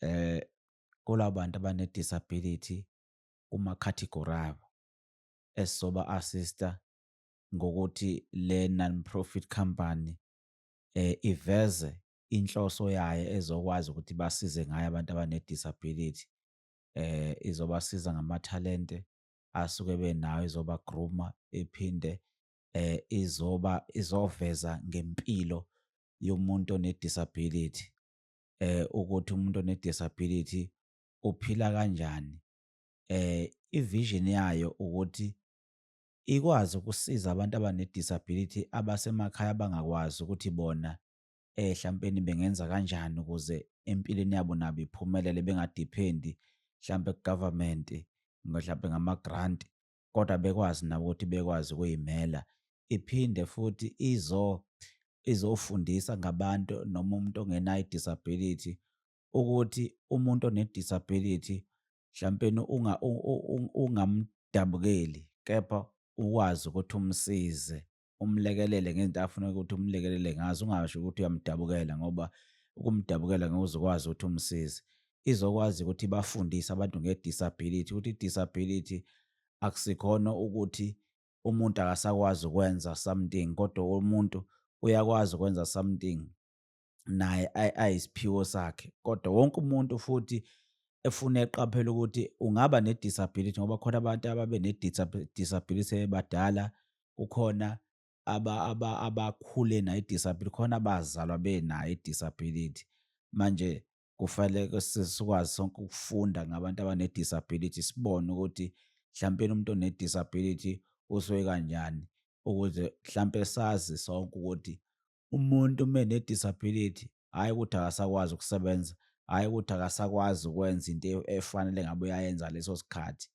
eh kulabo bantu abane-disability kuma-category abo esizoba-assista ngokuthi le non-profit company eh iveze inhloso yayo ezokwazi ukuthi basize ngayo abantu abane-disability eh izobasiza ngamathalente asuke benawo izobagruma iphinde eh izoba izoveza ngempilo yomuntu one-disability eh ukuthi umuntu one disability uphila kanjani eh ivision yayo ukuthi ikwazi ukusiza abantu abane disability abasemakhaya abangakwazi ukuthi bona eh hlampeni bengenza kanjani ukuze empilweni yabo nabo iphumelele bengadephendi hlampe kugovernment mhlampe ngama grant kodwa bekwazi nabo ukuthi bekwazi ukuyimela iphinde futhi izo izofundisa ngabantu noma umuntu ongenayo i-disability ukuthi umuntu one-disability mhlampeni ungamdabukeli kepha ukwazi ukuthi umsize umlekelele ngezinto afuna ukuthi umlekelele ngazo ungasho ukuthi uyamdabukela ngoba ukumdabukela ngeke uzokwazi ukuthi umsize izokwazi ukuthi bafundise abantu nge-disability ukuthi i-disability akusikhona ukuthi umuntu akasakwazi ukwenza something kodwa umuntu uyakwazi ukwenza something naye ayisiphiwo sakhe kodwa wonke umuntu futhi efuna eqaphela ukuthi ungaba ne-disability ngoba khona abantu ababe ne-disability ebadala kukhona abakhule nayo i-disability khona abazalwa benayo i-disability manje kufanele sikwazi sonke ukufunda ngabantu abane-disability sibone ukuthi mhlawumbe umuntu one-disability usuke kanjani ukuze mhlawumbe sazi sonke ukuthi umuntu uma ne-disability hhayi ukuthi akasakwazi ukusebenza, hhayi ukuthi akasakwazi ukwenza into e-, efanele ngabe uyayenza leso sikhathi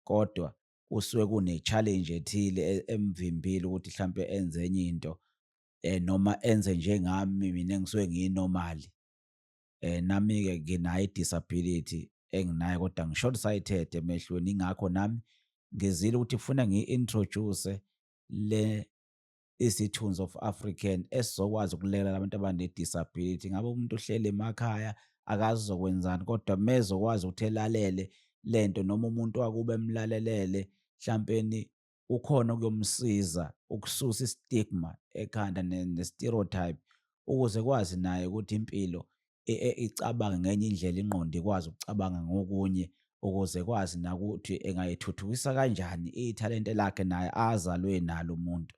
kodwa kusuke kune-challenge ethile e-, emvimbile ukuthi mhlawumpe enze enye into um noma enze njengami mina engisuke ngiyinomali um eh, nami-ke nginayo i-disability enginayo kodwa ngi-short sighted emehlweni ingakho nami ngizile ukuthi kufuna ngiyi-introduce le isithunzi of African esizokwazi ukulekelela abantu abanedisability ngabe umuntu uhleli emakhaya akazi uzokwenzani kodwa mezokwazi ukuthi elalele lento noma umuntu wakuba emlalelele mhlampeni ukhona ukuyomsiza ukususa istigma ekhanda ne-stereotype ukuze kwazi naye ukuthi impilo icabange ngenye indlela ingqondo ikwazi ukucabanga ngokunye ukuze kwazi nakuthi engayithuthukisa kanjani ithalente lakhe naye azalwe nalo umuntu.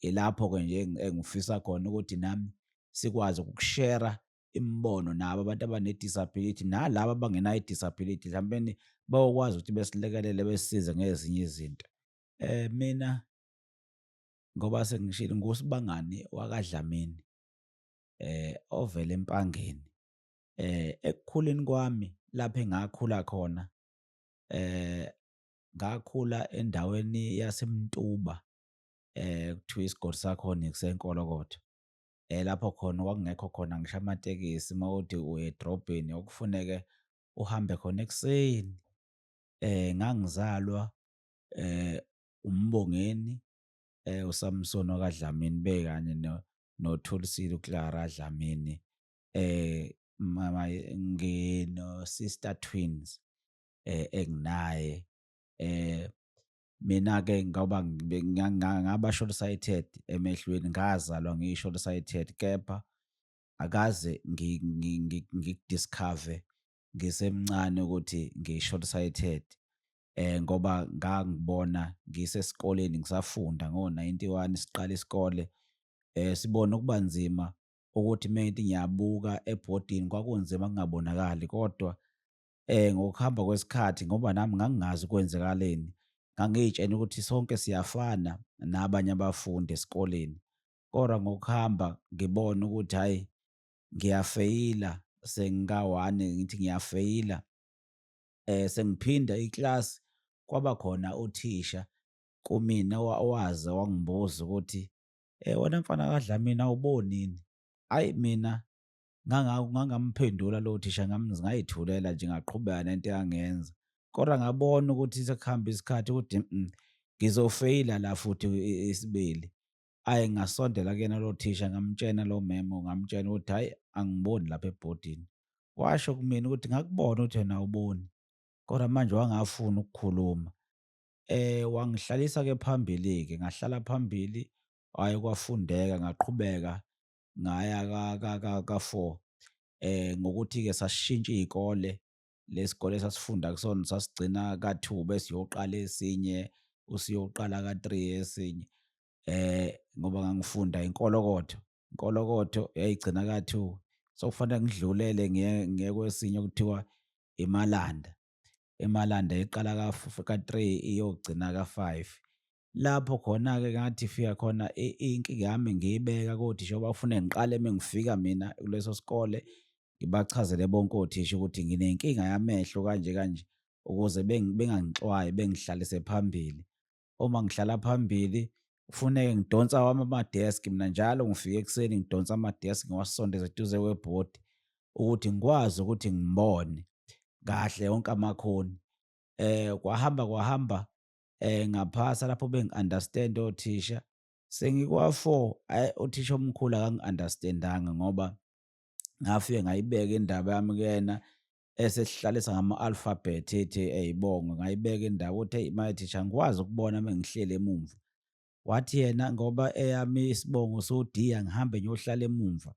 Ilapho-ke nje engifisa khona ukuthi nami sikwazi ukushera imibono nabo abantu abane-disability nalabo abangenayo i-disability mhlawumbeni bayokwazi ukuthi besilekelele besisize ngezinye izinto. Eh, mina ngoba sengishilo nguSibangani wakaDlamini. eh ovela empangeni eh ekukhuleni kwami lapho engakhula khona eh ngakhula endaweni yaseMntuba eh kuthiwa isigodi sakhona kusenkolokotho eh lapho khona kwakungekho khona ngisho amatekisi mawuthi uye edrobheni okufuneke uhambe khona ekuseni eh ngangizalwa eh uMbongeni eh, uSamson okaDlamini bekanye no noThulisile uClara Dlamini eh mama ngino sister twins eh enginaye eh mina ke ngoba ngaba short sighted emehlweni ngazalwa ngiyi short sighted kepha akaze ngikudiscover ngisemncane ukuthi ngiyi short sighted eh ngoba ngangibona ngisesikoleni ngisafunda ngo-91 siqala isikole eh sibona ukuba nzima ukuthi mente ngiyabuka ebhodini kwakunzima kungabonakali kodwa eh ngokuhamba kwesikhathi ngoba nami ngangingazi kwenzekaleni ngangiyitshena ukuthi sonke siyafana nabanye abafundi esikoleni kodwa ngokuhamba ngibona ukuthi hayi ngiyafeyila sengikawani ngithi ngiyafeyila eh sengiphinda iclass kwaba khona uthisha kumina waze wangibuza ukuthi eh wena mfana kaDlamini awubonini ayi mina ngangamphendula lowo thisha ngayithulela nje ngaqhubeka nento eyangenza kodwa ngabona ukuthi sekuhamba isikhathi ukuthi mm, ngizofeyila la futhi isibili ayi ngasondela kuyena lo thisha ngamtshena lo memo ngamtshena ukuthi hhayi angiboni lapha ebhodini washo kumina ukuthi ngakubona ukuthi wena awuboni kodwa manje wangafuni ukukhuluma eh wangihlalisa ke phambili ke ngahlala phambili hhayi kwafundeka ngaqhubeka ngaya ka-four um eh, ngokuthi-ke sasishintsha iy'kole lesikole sasifunda kusona sasigcina ka-two bese uyoqala esinye usuyoqala ka-three esinye eh ngoba ngangifunda inkolokotho inkolokotho yayigcina ka-two so kufanele ngidlulele ngiye kwesinye okuthiwa imalanda emalanda iqala ka-three iyogcina ka-five lapho khona-ke ngathi fika khona inkinga yami ngiyibeka kothisha ngoba ufune ngiqale uma ngifika mina kuleso sikole ngibachazele bonke othisha ukuthi nginenkinga yamehlo kanje kanje ukuze bengangixwayi bengihlalise phambili uma ngihlala phambili kufuneke ngidonsa wami amadeski mina njalo ngifike ekuseni ngidonsa amadeski ngiwasondeze eduze kwebhodi ukuthi ngikwazi ukuthi ngibone kahle wonke amakhoni um kwahamba kwahamba eh ngaphasa lapho bengi-understand othisha sengikwa-four ayi uthisha omkhulu akangi-understandanga ngoba ngafike ngayibeka indaba yami kuyena esesihlalisa ngama-alphabet ethi eyibongo ngayibeka indawo uthi eyi maye thisha ngikwazi ukubona uma ngihleli emumva wathi yena ngoba eyami isibongo sodiya ngihambe ngiyohlala emumva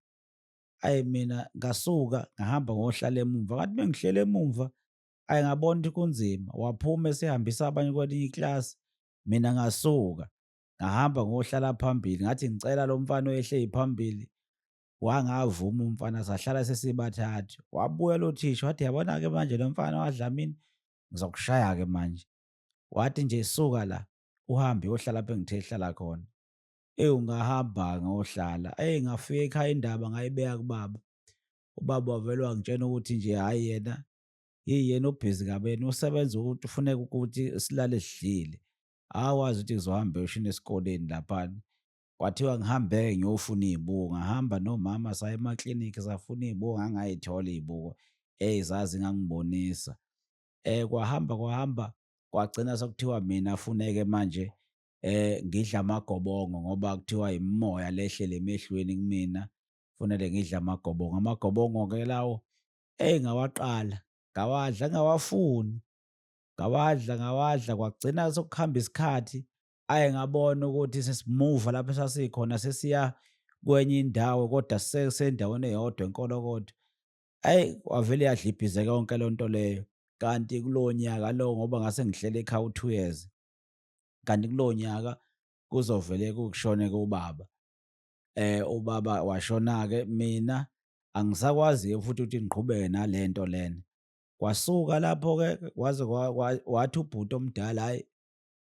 ayi mina ngasuka ngahamba ngohlala emumva kanti uma ngihleli emumva ayi ngabona ukuthi kunzima waphuma esehambisa abanye kwelinye iklasi mina ngasuka ngahamba ngohlala phambili ngathi ngicela lo mfana oyehleli phambili wangavuma umfana sahlala sesibathathu wabuya lo thisha wathi yabona-ke manje lo mfana wadlamini ngizokushaya-ke manje wathi nje suka la uhambe uyohlala apho engithe hlala khona eyi ungahamba ngohlala eyi ngafika ekhaya indaba ngayibeka kubaba ubaba wavele wangitshena ukuthi nje hhayi yena Yeyi yena ubhizi kabeni usebenza ukuthi ufuneka ukuthi silale sidlile. Awazi ukuthi ngizohamba yoshini esikoleni laphana. Kwathiwa ngihambe-ke ngiyofuna iy'buko. Ngahamba nomama saya emaklinikhi safuna iy'buko ngangay'thola iy'buko. Eyi zazi ngangibonisa. Eh kwahamba kwahamba kwagcina sekuthiwa mina funeke manje eh ngidla amagobongo ngoba kuthiwa imimoya lehlele emehlweni kumina. Kufanele ngidle amagobongo. Amagobongo-ke lawo Eyi ngawaqala, ngawadla ngawafuni, ngawadla ngawadla kwagcina sokuhamba isikhathi aye ngabona ukuthi sesimuva lapho esasikhona sesiya kwenye indawo kodwa sendaweni eyodwa enkolo kodwa. Ayi wavele yadlibhizeka yonke loo nto leyo kanti kulowo nyaka lowo ngoba ngase ngihlele ekhaya u-two years kanti kulowo nyaka kuzovele kushone kubaba. eh ubaba washona-ke mina angisakwazi-ke futhi ukuthi ngiqhubeke nale nto lena kwasuka lapho-ke kwaze kwa- kwa- wathi ubhuti omdala hhayi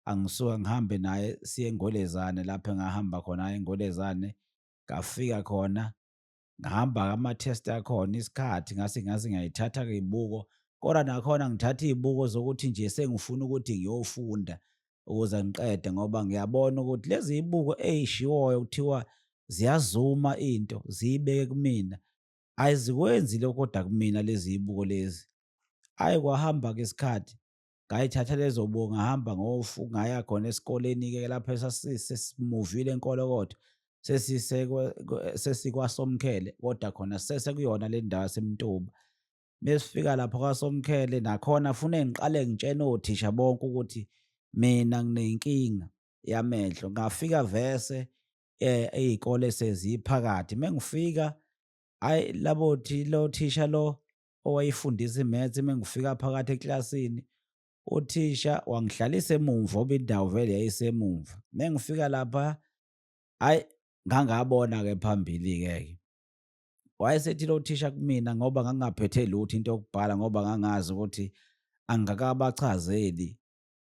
angisuka ngihambe naye siye engolezane lapho engahamba khona hhayi engolezane ngafika khona ngihamba ama-test akhona isikhathi ngase ngase ngiyayithatha-ke iy'buko kodwa nakhona ngithatha iy'buko zokuthi nje sengifuna ukuthi ngiyofunda ukuze ngiqede ngoba ngiyabona ukuthi lezi zibuko ezishiwoyo kuthiwa ziyazuma into ziyibeke kumina ayizikwenzi lokho kodwa kumina lezi zibuko lezi ayi kwahamba-ke isikhathi ngayithatha lezo buko ngahamba ngofu ngaya khona esikoleni-ke lapho sesimuvile enkolokodo sesikwasomkhele kodwa khona sesekuyona le ndawo yasemntuba mesifika lapho kwaSomkhele nakhona fune ngiqale ngitshene othisha bonke ukuthi mina nginenkinga yamehlo ngafika vese eh izikole seziphakathi mengifika ayi labo thi lo thisha lo owayifundisa imaths mengifika phakathi eklasini uthisha wangihlalisa emumva oba indawo vele yayisemumva mengifika lapha ayi ngangabona ke phambili ke wayesethile uthisha kumina ngoba ngangingaphethe lutho into yokubhala ngoba ngangazi ukuthi angikakabachazeli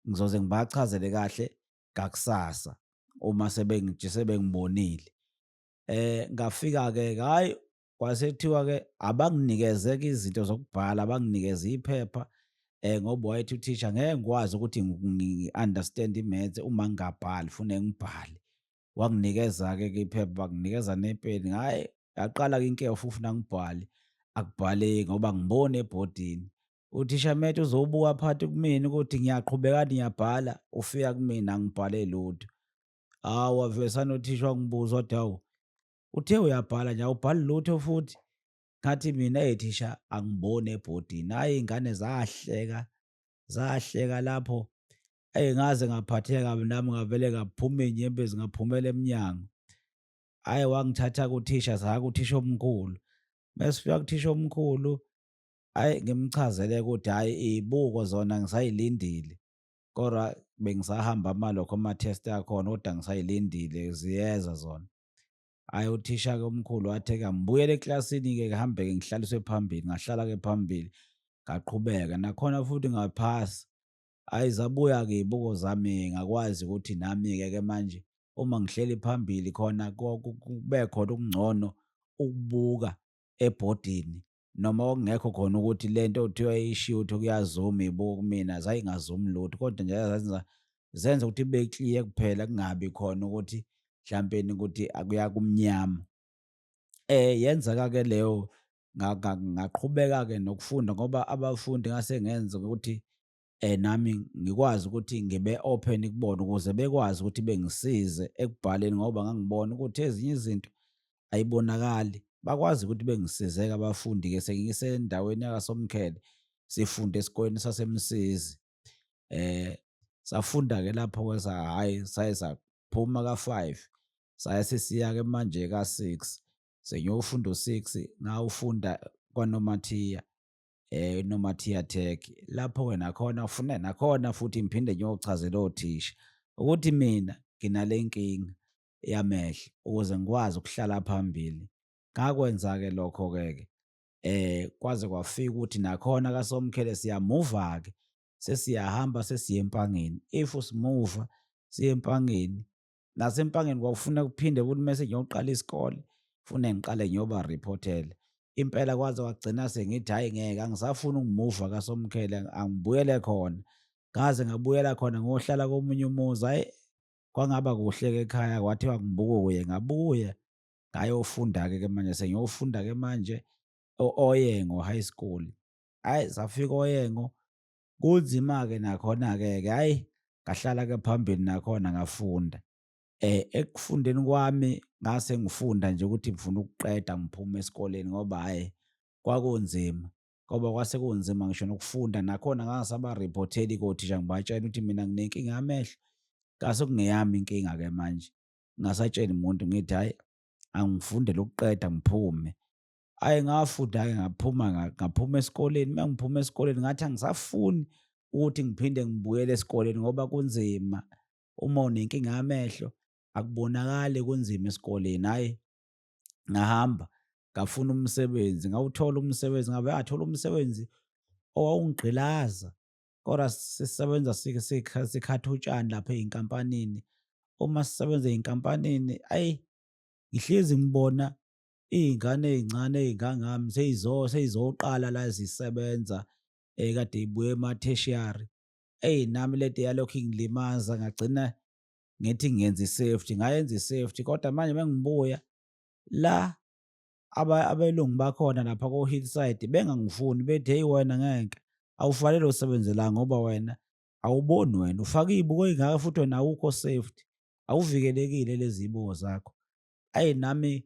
ngizoze ngibachazele kahle ngakusasa uma sebengije sebengibonile eh ngafika ke hayi kwasethiwa ke abanginikeze ke izinto zokubhala abanginikeze iphepha eh ngoba wayethi uthisha ngeke ngikwazi ukuthi ngi-understand imaths uma ngingabhali fune ngibhale wanginikeza-ke ke iphepha banginikeza nepeni hhayi yaqala-ke inkeyo futhi ufuna ngibhale akubhaleki ngoba ngibone ebhodini uthishamete uzowubuka phakathi kumina ukuthi ngiyaqhubekani ngiyabhala ufika kumina angibhale lutho hawu wavesana uthisha wangibuza wathi hawu uthe uyabhala nje awubhali lutho futhi ngathi mina ethisha angiboni ebhodini hhayi iy'ngane zahleka zahleka lapho eyi ngaze ngaphatheka kabi nami ngavele ngaphuma iy'nyembezi ngaphumela emnyango hhayi wangithatha kuthisha saa kuthisha omkhulu mesifika kuthisha omkhulu hhayi ngimchazele ukuthi hhayi iy'buko zona ngisayilindile kodwa bengisahamba amalokho ama-test akhona kodwa ngisayilindile ziyeza zona hhayi uthisha-ke omkhulu wathi-ke ngibuyele eklasini-ke kuhambe-ke ngihlaliswe phambili ngahlala-ke phambili ngaqhubeka nakhona futhi ngaphasa Hhayi zabuya-ke iy'buko zami ngakwazi ukuthi nami-ke ke manje uma ngihleli phambili khona kube khona okungcono ukubuka ebhodini noma okungekho khona ukuthi le nto kuthiwa ishiwo ukuthi kuyazuma ibuka kumina zayingazumi lutho kodwa nje zazenza zenza ukuthi kube clear kuphela kungabi khona ukuthi mhlampeni ukuthi akuya kumnyama. Eh yenzeka-ke leyo ngaqhubeka-ke nokufunda ngoba abafundi ngase ngenza ukuthi um nami ngikwazi ukuthi ngibe open kubona ukuze bekwazi ukuthi bengisize ekubhaleni ngoba ngangibona ukuthi ezinye izinto ayibonakali bakwazi ukuthi bengisizeke abafundi-ke sengisendaweni yakasomkhele sifunda esikoleni sasemsizi um safunda-ke lapho-ke hhayi saye saphuma ka-five saye sesiya-ke manje ka-six sengiyofunda u-six ngawufunda kwanomathiya eh nomathiya tech lapho wena khona ufunda nakhona futhi ngiphinde ngiyochazela othisha ukuthi mina nginale nkinga yamehlo ukuze ngikwazi ukuhlala phambili ngakwenza-ke lokho-ke ke eh kwaze kwafika ukuthi nakhona kasomkhele siyamuva-ke sesiyahamba sesiye empangeni if simuva siye empangeni nasempangeni kwakufuna kuphinde ukuthi mese ngiyoqala isikole fune ngiqale ngiyoba reportele impela kwaze wagcina sengithi hhayi ngeke angisafuni ukumuva kasomkhele angibuyele khona ngaze ngabuyela khona ngohlala komunye umuzi hhayi kwangaba kuhle-ke ekhaya kwathiwa ngibukuye ngabuye ngayofunda-ke ke manje sengiyofunda-ke manje o-oyengo high school hhayi safika oyengo kunzima-ke nakhona-ke ke hhayi ngahlala-ke phambili nakhona ngafunda um ekufundeni kwami ngase ngifunda nje ukuthi ngifuna ukuqeda ngiphume esikoleni ngoba hhayi kwakunzima ngoba kwase kunzima ngisho nokufunda nakhona ngangisabariphotheli kothisha ngibatshela ukuthi mina nginenkinga yamehlo ngase kungeyami inkinga-ke manje ngingasatsheli muntu ngithi hhayi angifundele ukuqeda ngiphume ayi ngafunda-ke ngaphuma ngaphuma esikoleni uma ngiphuma esikoleni ngathi angisafuni ukuthi ngiphinde ngibuyele esikoleni ngoba kunzima uma unenkinga yamehlo akubonakali kunzima esikoleni hhayi ngahamba ngafuna umsebenzi ngawuthola umsebenzi ngabe athola umsebenzi owawungigqilaza kodwa sisebenza sikhatha utshani lapha ey'nkampanini uma sisebenza ey'nkampanini ayi ngihlezi ngibona iy'ngane ey'ncane ey'ngangami seyizoqala la zisebenza um kade ibuye ema-tertiary eyi nami lento yalokhu ingilimaza ngagcina ngithi ngenza i-safety ngayenza i-safety kodwa manje uma ngibuya la abelungu bakhona lapha ko-hillside bengangifuni bethi heyi wena ngeke awufanele usebenze la ngoba wena awuboni wena ufake iy'buko ey'ngaka futhi wena awukho safety awuvikelekile lezi zibuko zakho ayi nami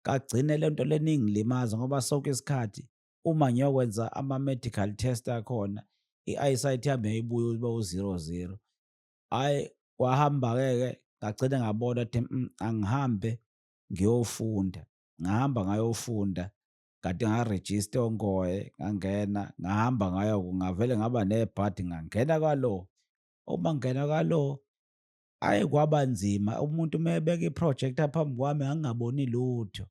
kagcine le nto lena ingilimaza ngoba sonke isikhathi uma ngiyokwenza ama-medical test akhona i-eyesight yami yayibuya uba u-zero zero hhayi kwahamba-ke ke ngagcine ngabona ukuthi mm, angihambe ngiyofunda ngahamba ngayofunda kade ngarejista ongoye ngangena ngahamba ngayo ngavele ngaba nebhadi ngangena kwalo uma ngingena kwalo Ayi kwaba nzima umuntu uma ebeka i-project phambi kwami ngangingaboni lutho.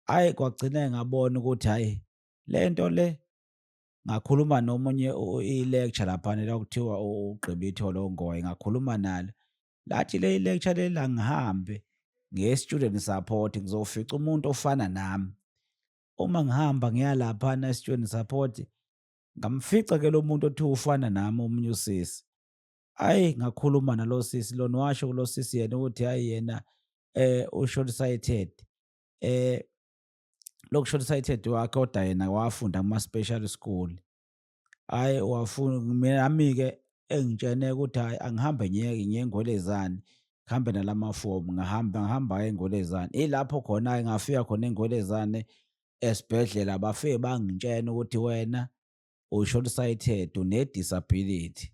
Ayi kwagcina ngabona ukuthi hhayi le nto le ngakhuluma nomunye i-lecture laphana la kuthiwa ugqibe ithole ongoye ngakhuluma nalo. Lathi le i-lecture leli angihambe ngiye student support ngizofica umuntu ofana nami. Uma ngihamba ngiya laphana e-student support ngamfica ke lo muntu othiwa ufana nami omunye usisi. Hhayi ngakhuluma nalo sisi lona washo kulo sisi yena ukuthi hhayi yena eh ushort sighted eh loku short sighted wakhe kodwa yena wafunda kuma special school hhayi wafuna nami-ke engitshene ukuthi hhayi angihambe ngiyeke ngiye engwelezane ngihambe nalamafomu ngahamba ngihamba engwelezane ilapho khona-ke ngafika khona engwelezane esibhedlela bafike bangitshena ukuthi wena ushort sighted une-disability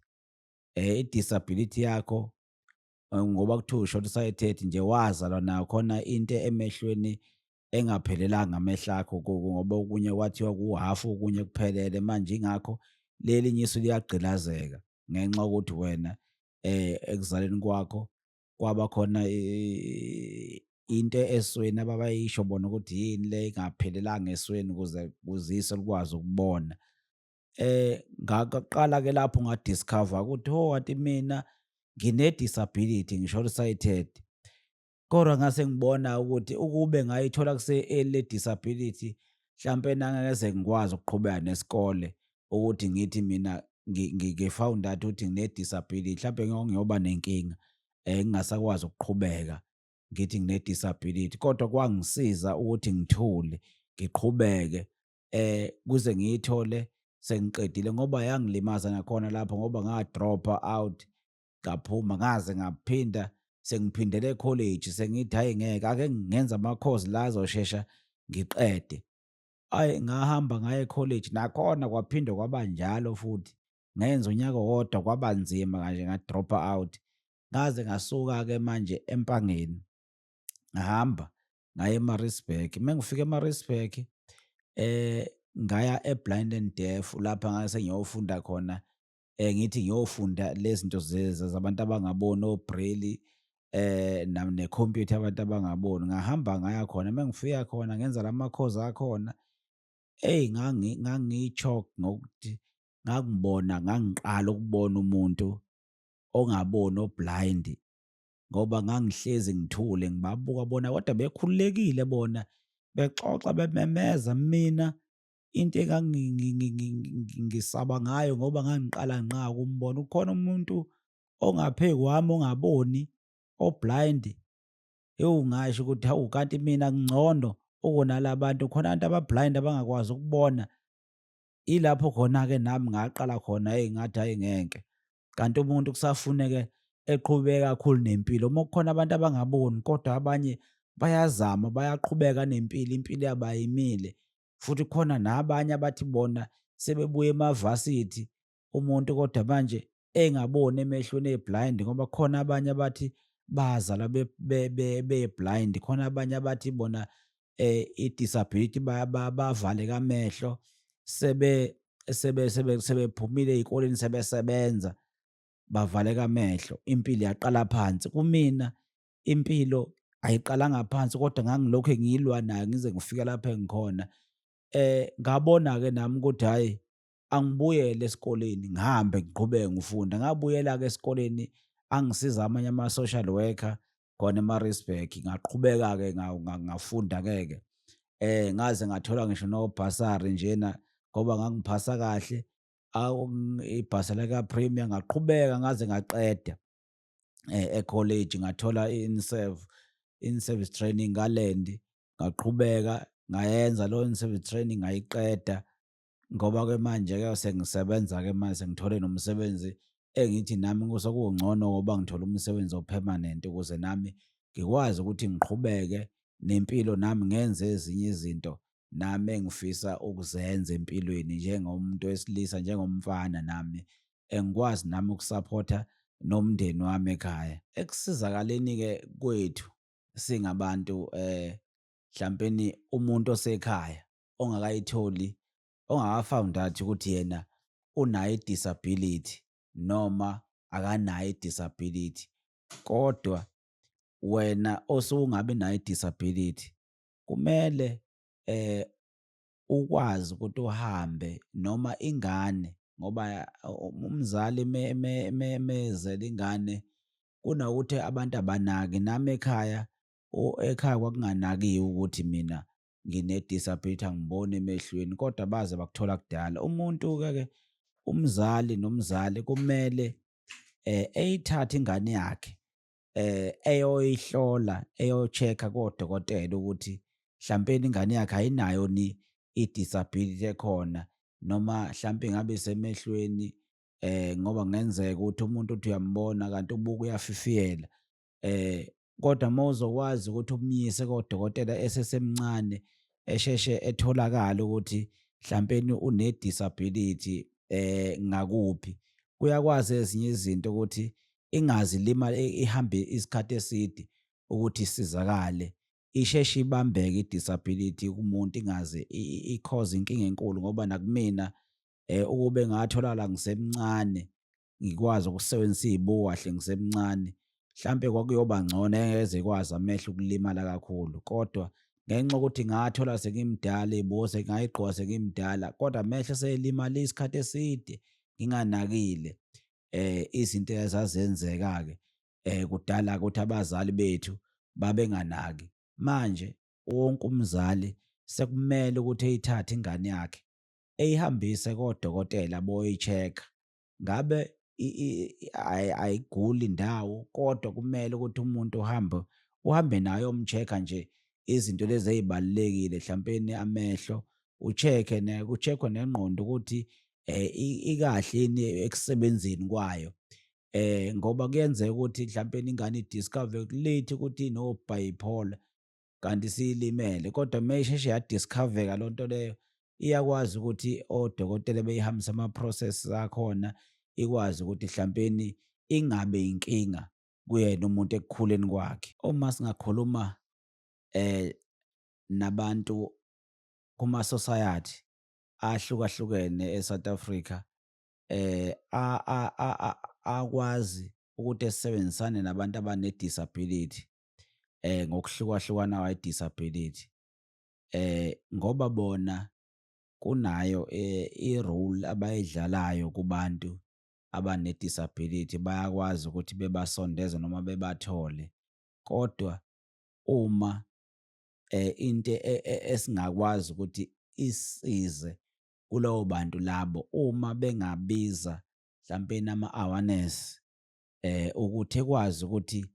eh i-disability yakho eh, ngoba kuthiwa ushona usayethethi nje wazalwa nayo khona into emehlweni engaphelelanga amehlo akho ngoba okunye kwathiwa kuwuhafu okunye kuphelele manje ingakho leli nyiso liyagqilazeka ngenxa yokuthi wena eh ekuzaleni kwakho kwaba khona into esweni ababayisho bona ukuthi yini le ingaphelelanga esweni ukuze kuzise likwazi ukubona Eh, ngaqala-ke lapho nga-discover ukuthi ho kanti mina ngine-disability ngisho sighted kodwa ngase ngibona ukuthi ukube ngayithola kuse-early le disability mhlampe nangingeze ngikwazi ukuqhubeka nesikole ukuthi ngithi mina ngi-found out ukuthi ngine-disability mhlampe ngiyoba nenkinga um ngingasakwazi ukuqhubeka ngithi ngine-disability kodwa kwangisiza ukuthi ngithule ngiqhubeke eh kuze ngiyithole sengiqedile ngoba yangilimaza nakhona lapho ngoba ngadropha out ngaphuma ngaze ngaphinda sengiphindele ecollege sengithi hayi ngeke ake ngenza amakhozi la azoshesha ngiqede ayi ngahamba ngaye ecollege nakhona kwaphinde kwaba njalo futhi ngenza unyaka wodwa kwaba nzima kanje ngadropha out ngaze ngasuka-ke manje empangeni ngahamba ngaya eMaritzburg. Uma ngifika eMaritzburg eh ngaya eBlind and Deaf lapha ngase ngiyofunda khona eh ngithi ngiyofunda lezinto zabantu abangaboni oBraille eh nam necomputer abantu abangaboni ngahamba ngaya khona uma ngifika khona ngenza lama course akhona hey ngangi ngangichok ngokuthi ngakubona ngangiqala ukubona umuntu ongaboni oblind ngoba ngangihlezi ngithule ngibabuka bona kodwa bekhululekile bona bexoxa bememeza mina into engangisaba ngayo ngoba ngangiqala ngqa ukumbona ukhona umuntu ongaphe kwami ongaboni oblind ewu ngasho ukuthi hawu kanti mina ngcono ukunala bantu khona abantu abablind abangakwazi ukubona ilapho khona-ke nami ngaqala khona eyi ngathi hayi ngeke kanti umuntu kusafuneke eqhubeke kakhulu nempilo uma kukhona abantu abangaboni kodwa abanye bayazama bayaqhubeka nempilo impilo yabayimile futhi khona nabanye abathi bona sebebuye emavasithi umuntu kodwa manje engaboni emehlweni eblind ngoba khona abanye abathi bazalwa be-blind khona abanye abathi bona eh idisability bavaleka amehlo sebe sebe sebe sebephumile ezikoleni sebesebenza bavaleka amehlo impilo yaqala phansi kumina impilo ayiqalanga phansi kodwa ngangilokhu ngiyilwa nayo ngize ngifike lapha engikhona eh ngabona ke nami ukuthi hayi angibuyele esikoleni ngihambe ngiqhubeke ngifunda ngabuyela ke esikoleni angisiza amanye ama social worker khona eMaritzburg ngaqhubeka ke ngafunda ngeke eh ngaze ngathola ngisho no basari njena ngoba ngangiphasa kahle ibhasa lika premier ngaqhubeka ngaze ngaqeda eh ecollege ngathola inserve in service training ngalendi ngaqhubeka ngayenza lo in service training ngayiqeda ngoba ke manje ke sengisebenza ke manje sengithole nomsebenzi engithi nami kusokungcono ngoba ngithola umsebenzi opermanent ukuze nami ngikwazi ukuthi ngiqhubeke nempilo nami ngenze ezinye izinto nami engifisa ukuzenza empilweni njengomuntu wesilisa njengomfana nami engikwazi nami ukusaphotha nomndeni wami ekhaya ekusizakaleni ke kwethu singabantu eh mhlawumbe umuntu osekhaya ongakayitholi ongakafoundathi ukuthi yena unayo i-disability noma akanayo i-disability kodwa wena osungabe nayo i-disability kumele eh ukwazi ukuthi uhambe noma ingane ngoba umzali mezela ingane kunokuthi abantu abanaki nami ekhaya ekhaya kwakunganakiwe ukuthi mina ngine-disability angiboni emehlweni kodwa baze bakuthola kudala umuntu-ke ke umzali nomzali kumele eh eyithathe ingane yakhe eh eyoyihlola eyocheck-a kodokotela ukuthi hlampeni ingane yakhe ayinayo ni i-disability ekhona noma hlampe ngabe semehlweni eh ngoba kungenzeka ukuthi umuntu uthi uyambona kanti ubuka uyafifiyela eh kodwa uma uzokwazi ukuthi umyise kodokotela esesemncane esheshe etholakala ukuthi mhlampeni une-disability eh ngakuphi kuyakwazi ezinye izinto ukuthi ingazi lima ihambe isikhathi eside ukuthi isizakale isheshe ibambeke i-disability kumuntu ingaze ikhoze inkinga enkulu ngoba nakumina eh ukube ngatholakala ngisemncane ngikwazi ukusebenzisa iy'buko kahle ngisemncane. Mhlampe kwakuyoba ngcono engeze ikwazi amehlo ukulimala kakhulu kodwa ngenxa yokuthi ngathola sengimdala iy'buko sengayigqoka sengimdala kodwa amehlo eselimale isikhathi eside nginganakile um izinto ezazenzeka-ke um kudala ukuthi abazali bethu babenganaki. Manje wonke umzali sekumele ukuthi eyithathe ingane yakhe eyihambise kodokotela boyi-check-a ngabe ayiguli indawo kodwa kumele ukuthi umuntu uhambe uhambe nayo umcheck-a nje izinto lezi ezibalekile hlawumpeni amehlo ucheck-e ne kucheck-we nengqondo ukuthi eh ikahle yini ekusebenzeni kwayo eh ngoba kuyenzeka ukuthi mhlawumpeni ingane idiscover late ukuthi no bipolar kanti siyilimele kodwa uma isheshe yadiscoveka loo nto leyo iyakwazi ukuthi odokotela beyihambisa ama-process akhona ikwazi ukuthi hlampeni ingabe inkinga kuyena umuntu ekukhuleni kwakhe uma singakhuluma eh nabantu kuma society ahlukahlukene eSouth Africa eh akwazi ukuthi esebenzisane nabantu abane disability eh ngokuhlukahlukana kwayo disability eh ngoba bona kunayo eh, i-role abayidlalayo kubantu abane disability bayakwazi ukuthi bebasondeze noma bebathole kodwa uma eh into e, e, esingakwazi ukuthi isize kulowo bantu labo uma bengabiza mhlawumbe nama-awareness eh ukuthi ekwazi ukuthi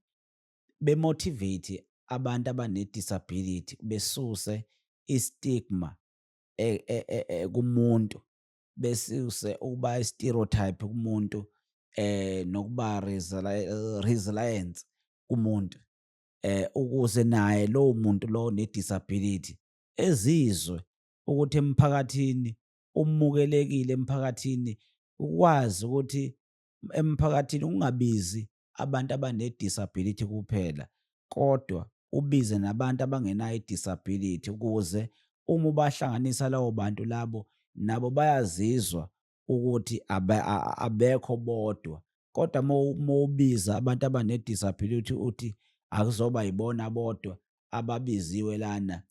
bemotivate abantu abane-disability besuse i-stigma e, e, e, kumuntu besuse ukuba i-stereotype kumuntu eh nokuba resilience kumuntu eh ukuze naye lowo muntu lo ne-disability ezizwe ukuthi emphakathini umukelekile emphakathini ukwazi ukuthi emphakathini ungabizi abantu abanedisability kuphela kodwa ubize nabantu abangenayo idisability ukuze uma ubahlanganisa lawo bantu labo nabo bayazizwa ukuthi abekho bodwa kodwa uma ubiza abantu abanedisability uthi akuzoba yibona bodwa ababiziwe lana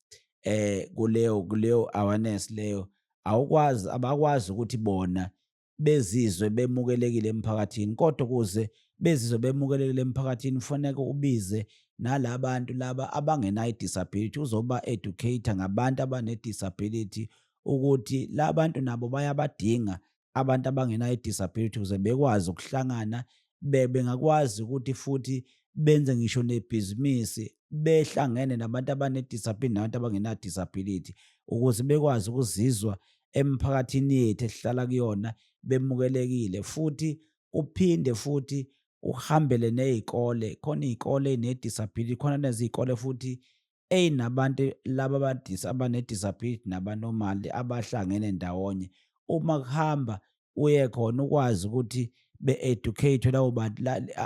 eh kuleyo kuleyo awareness leyo awukwazi abakwazi ukuthi bona bezizwe bemukelekile emphakathini kodwa ukuze bezizwe bemukelekile emphakathini kufaneke ubize nalabantu laba abangenayo disability uzoba educator ngabantu abane disability ukuthi labantu nabo bayabadinga abantu abangenayo disability ukuze bekwazi ukuhlangana bebengakwazi ukuthi futhi benze ngisho nebhizinisi behlangene nabantu abanedisability nabantu abangenadisability ukuze bekwazi ukuzizwa emphakathini yethu esihlala kuyona bemukelekile futhi uphinde futhi uhambele nezikole khona izikole nedisability khona nezikole futhi Eyi nabantu laba abadisa abane-disability nabanomali abahlangene ndawonye uma kuhamba uye khona ukwazi ukuthi be-educate-we labo bantu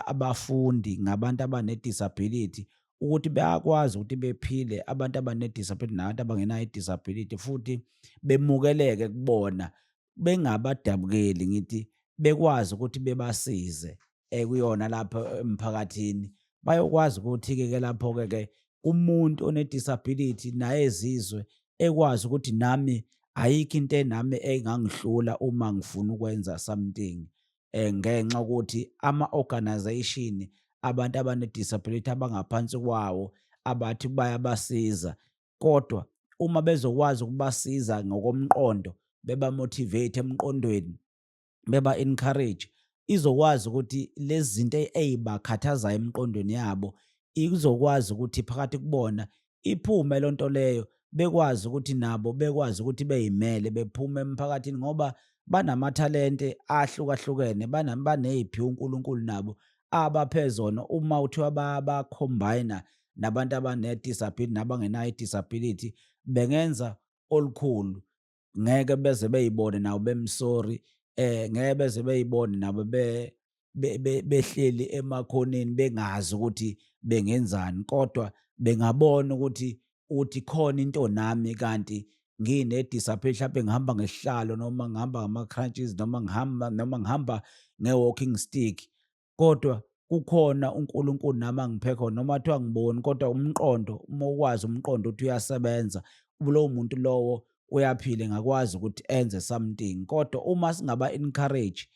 abafundi ngabantu abane-disability ukuthi bayakwazi ukuthi bephile abantu abane-disability nabantu abangenayo i-disability futhi bemukeleke kubona bengabadabukeli ngithi bekwazi ukuthi bebasize ekuyona lapho emphakathini bayokwazi ukuthi-ke ke lapho-ke ke umuntu one-disability naye ezizwe ekwazi ukuthi nami ayikho into enami engangihlula uma ngifuna ukwenza something um ngenxa ukuthi ama-organization abantu abane-disability abangaphansi kwawo abathi bayabasiza kodwa uma bezokwazi ukubasiza ngokomqondo beba motivate emqondweni beba encourage izokwazi ukuthi lezi zinto ezibakhathazayo emqondweni yabo izokwazi ukuthi phakathi kubona iphume loo nto leyo bekwazi ukuthi nabo bekwazi ukuthi beyimele bephume emphakathini ngoba banamathalente ahlukahlukene baneziphi uNkulunkulu nabo abaphezona uma uthiwa bacombine nabantu abane-disability nabangenayo i-disability bengenza olukhulu ngeke beze beyibone nabo bemsori eh ngeke beze beyibone nabo be behleli emakhoneni bengazi ukuthi bengenzani kodwa bengabona ukuthi uthi khona into nami kanti ngine-disability mhlawumbe ngihamba ngesihlalo noma ngihamba ngama-crunches noma ngihamba noma ngihamba nge-walking stick kodwa kukhona uNkulunkulu nami angiphe khona noma kuthiwa ngiboni kodwa umqondo uma ukwazi umqondo ukuthi uyasebenza lowo muntu lowo uyaphila engakwazi ukuthi enze something kodwa uma singaba encourage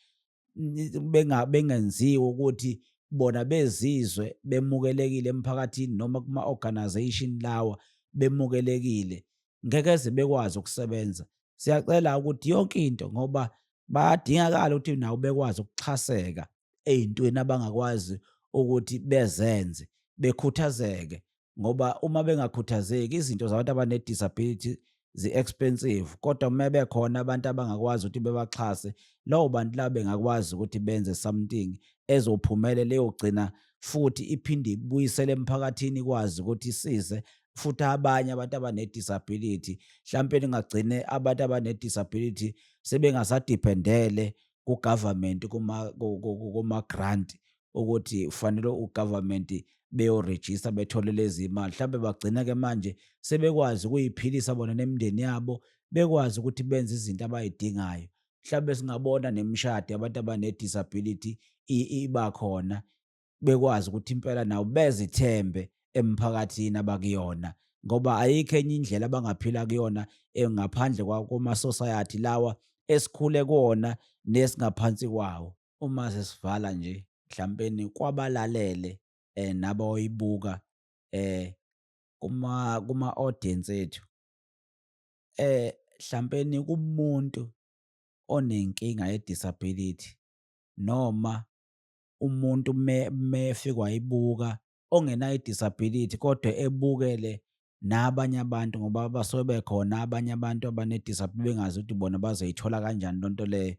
bengenziwe ukuthi bona bezizwe bemukelekile emphakathini noma kuma-organization lawa bemukelekile ngeke ze bekwazi ukusebenza siyacela ukuthi yonke into ngoba bayadingakala ukuthi nawo bekwazi ukuxhaseka ey'ntweni abangakwazi ukuthi bezenze bekhuthazeke ngoba uma bengakhuthazeki izinto zabantu abane-disability zi-expensive kodwa uma bekhona abantu abangakwazi ukuthi bebaxhase lowo bantu labo bengakwazi ukuthi benze something ezophumele leyogcina futhi iphinde ibuyisele emphakathini ikwazi ukuthi isize futhi abanye abantu abanedisability mhlawumpe ningagcine abantu abanedisability sebengasadependele kugovernment kuma-grant ukuthi kufanele ugovernment beyorejista bethole lezi imali mhlawumbe bagcina-ke manje sebekwazi ukuyiphilisa bona nemindeni yabo bekwazi ukuthi benze izinto abayidingayo mhlawumbe singabona nemishado yabantu abanedisability iba khona bekwazi ukuthi impela nawo bezithembe emphakathini abakuyona ngoba ayikho enye indlela abangaphila kuyona eh, ngaphandle kwakomasosayati lawa esikhule kuwona nesingaphansi kwawo uma sesivala nje mhlampeni kwabalalele eh nabayibuka eh kuma kuma audience ethu eh mhlampeni kumuntu onenkinga ye disability noma umuntu mefika wayibuka ongenayo i-disability kodwa ebukele nabanye abantu ngoba basuke bekhona abanye abantu abane-disability bengazi ukuthi bona bazoyithola kanjani loo nto leyo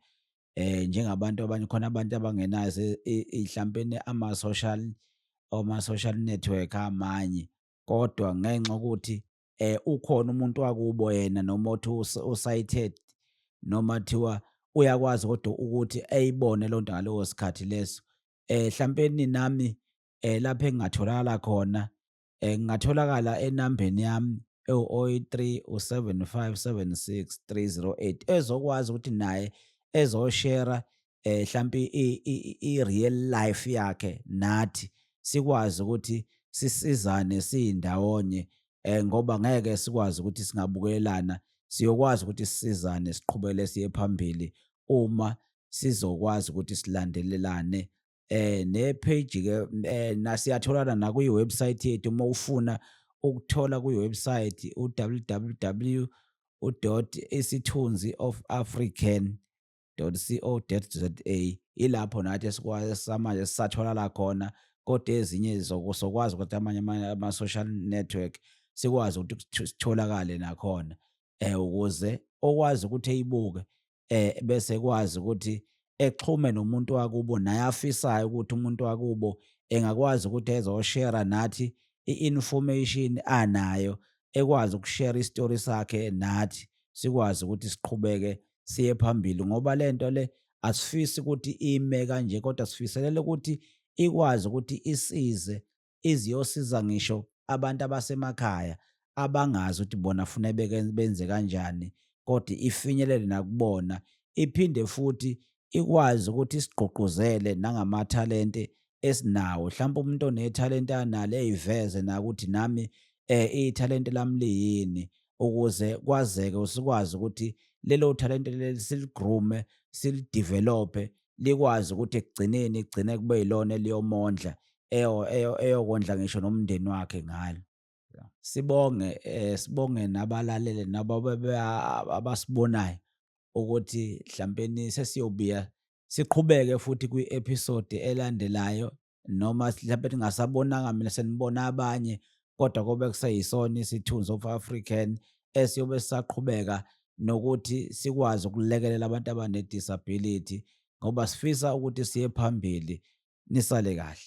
um njengabantu abanye khona abantu abangenazo mhlampeni ama-social oma-social network amanye kodwa ngenxa yokuthi eh ukhona umuntu wakubo yena noma othi usighted noma thiwa uyakwazi kodwa ukuthi ayibone lonto ngaleso sikhathi leso eh hlampeni nami eh lapha engingatholakala khona eh ngingatholakala enambeni yami ewu-03 u-7576 3008 ezokwazi ukuthi naye ezoshera eh hlampi i real life yakhe nathi sikwazi ukuthi sisizane siyindawonye eh ngoba ngeke sikwazi ukuthi singabukelana siyokwazi ukuthi sisizane siqhubele siye phambili uma sizokwazi ukuthi silandelelane eh ne page ke eh, nasiyatholana na kwi website yethu uma ufuna ukuthola kwi website u www.isithunzi of african www.co.za ilapho nathi samanje sisatholala khona kodwa ezinye zokwazi ukuthi amanye ama-social network sikwazi ukuthi sitholakale nakhona eh ukuze okwazi ukuthi eyibuke eh bese kwazi ukuthi exhume nomuntu wakubo naye afisayo ukuthi umuntu wakubo engakwazi ukuthi ezoshare nathi i-information anayo ekwazi ukushare istory sakhe nathi sikwazi ukuthi siqhubeke siye phambili ngoba lento le asifisi ukuthi ime kanje kodwa sifiselele ukuthi ikwazi ukuthi isize iziyosiza ngisho abantu abasemakhaya abangazi ukuthi bona funa benze kanjani kodwa ifinyelele nakubona iphinde futhi ikwazi ukuthi isigqugquzele nangamathalente esinawo hlampe umuntu onethalente analo eyiveze nakuthi nami eh ithalente lami liyini ukuze kwazeke usikwazi ukuthi lelo thalente leli siligrume silidevelope likwazi ukuthi ekugcineni igcine kube yilona eliyomondla eyokondla ngisho nomndeni wakhe ngalo sibonge eh sibonge nabalalele nabo abasibonayo ukuthi mhlawumbe sesiyobuya siqhubeke futhi kwi-episode elandelayo noma mhlawumbe ningasabonanga mina senibona abanye kodwa kobe kuseyisona isithunzi of African esiyobe sisaqhubeka nokuthi sikwazi ukulekelela abantu abane-disability ngoba sifisa ukuthi siye phambili nisale kahle